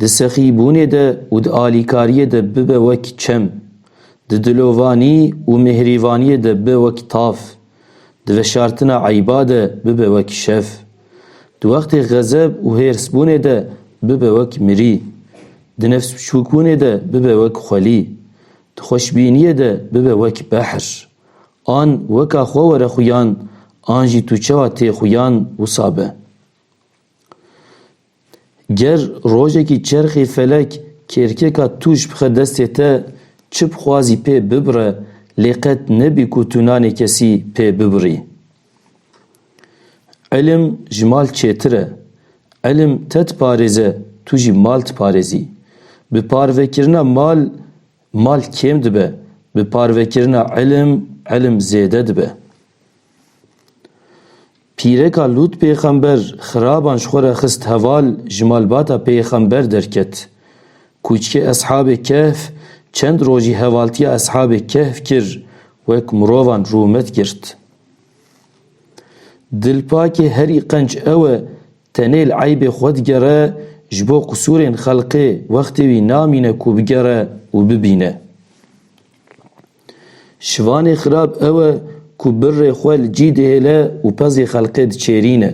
Di sexîbûnê de û di alîkariyê de bibe wek çem, di dilovanî û mihrîvaniyê de bibe wek tav, di veşartina eyba de bibe wek şev, di wextê xezeb û hêrsbûnê de bibe wek mirî, di nefsbiçûkbûnê de bibe wek xwelî, di xweşbîniyê de bibe wek behr. An weka xwe were xuyan, an jî tu çawa tê xuyan wisa be. Ger rojekî çerxê felek kêrkêka tû ji bixwe destê te, çi bixwazî pê bibire lê qet nebî ku tu nanê kesî pê bibirî. Îlim ji mal çêtir e. Îlim te diparêze, tu jî mal diparêzî. Bi parvekirina mal, mal kêm dibe, bi parvekirina îlim, îlim zêde dibe. Pîreka Lût pêxember xiraban ji xwe re xist heval ji malbata pêxember derket. Kûçkê Eshabê Kehf çend rojî hevaltiya Eshabê Kehf kir wek mirovan rûmet girt. Dilpakê herî qenc ew e tenê li eybê xwe digere ji bo qisûrên xelqê wextê wî namîne ku bigere û bibîne. Şivanê xirab ew e ku birrê xwe li cî dihêle û pezê xelkê diçêrîne.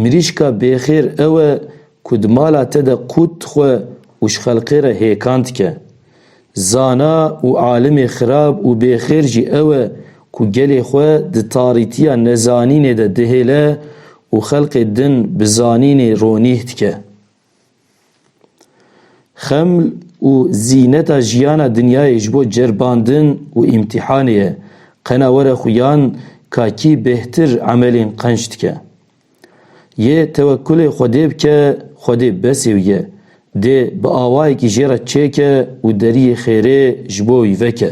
Mirîşka bêxêr ew e ku di mala te de qût dixwe û ji xelkê re hêkan dike. Zana û alimê xirab û bêxêr jî ew e ku gelê xwe di tarîtiya nezanînê de dihêle û xelkê din bi zanînê ronîh dike. Xem û zîneta jiyana dinyayê ji bo ceribandin û îmtîhanê ye. Qena were xuyan ka kî bêhtir emelên qenc dike. Yê tewekkulê Xwedê bike, Xwedê besê wî ye. Dê bi awayekî jê re çêke û deriyê xêrê ji bo wî veke.